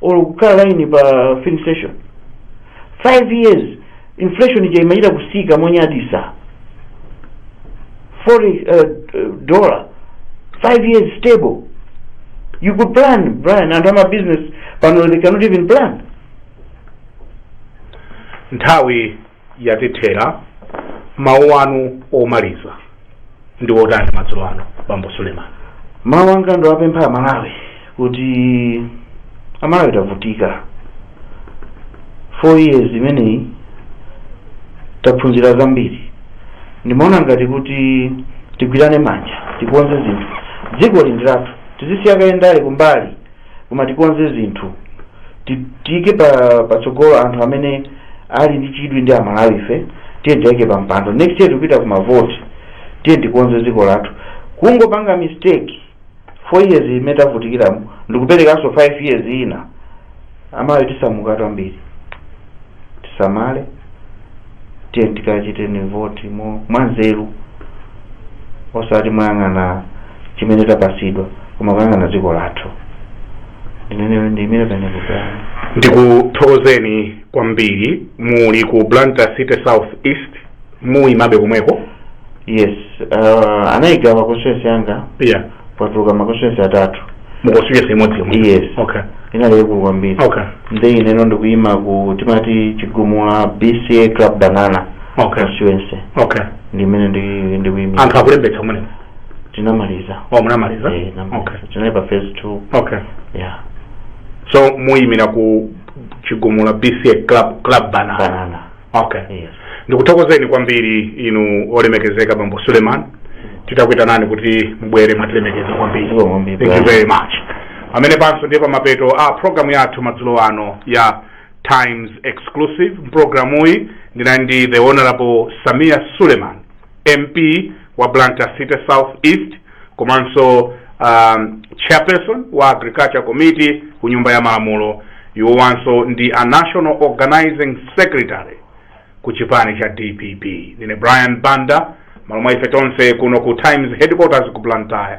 or kukhala line pa filling station 5 years inflation ija imachita kusika monyadisa 40 uh, dollar 5 years stable you could plan brian anthu ama business pano they cannot even plan nthawi yatithera. Mawu anu omaliza ndi otani madzulo ano, Bambo Suleman? mawu anga ndowapempha amalawi kuti amalawi tavutika four years imeneyi taphunzira zambiri ndimaona ngati kuti tigwirane manja tikonze zinthu dzikoli ndi lathu tizisiya kaye ndale kumbali koma tikonze zinthu Ti- tiike patsogolo anthu amene ali ndi chidwi ndi amalawife tiye tiwaike pa mpando next year tikupita ku mavoti tiye tikonze dziko lathu kungopanga mistake 4 years imene tavutikiramo ndikuperekanso 5 years ina amalawi tisamuka kwambiri tisamale tiye tikachiteni voti mwanzeru osati moyang'ana chimene tapatsidwa koma kuyang'ana dziko lathu ndiyimire penepo ndikuthokozeni kwambiri muli ku blantyre city south east muyimabe komweko yes uh, anayigawa constituency yanga yeah patuluka ma constituency atatu mu constituency imodzi yomwe yes okay inali yaikulu kwambiri okay nde ineno ndikuyima ku timati chigumula bca club banana okay constituency okay ndimene ndi- ndikuyimira anthu akulembetsa kumeneko tinamaliza oh munamaliza Eh, namaliza. okay tinali pa phase two okay yeah so muyimira ku chigumula bca club club banana banana okay yes ndikuthokozeni kwambiri inu olemekezeka bambo suleman titakuitanani kuti mubwere mwatilemekeza kwambiri Zikomo kwambiri, thank you brother. very much pamenepanso ndiye pamapeto a programu yathu madzulo ano ya times exclusive mpulogalamuyi ndinali ndi the honorable sameer suleman mp wa blantyre city south east komanso um, chairperson wa agriculture committee ku nyumba ya malamulo iwowanso ndi a national organizing secretary ku chipani cha dpp ndine brian banda m'malo mwa ife tonse kuno ku times headquarters ku blantyre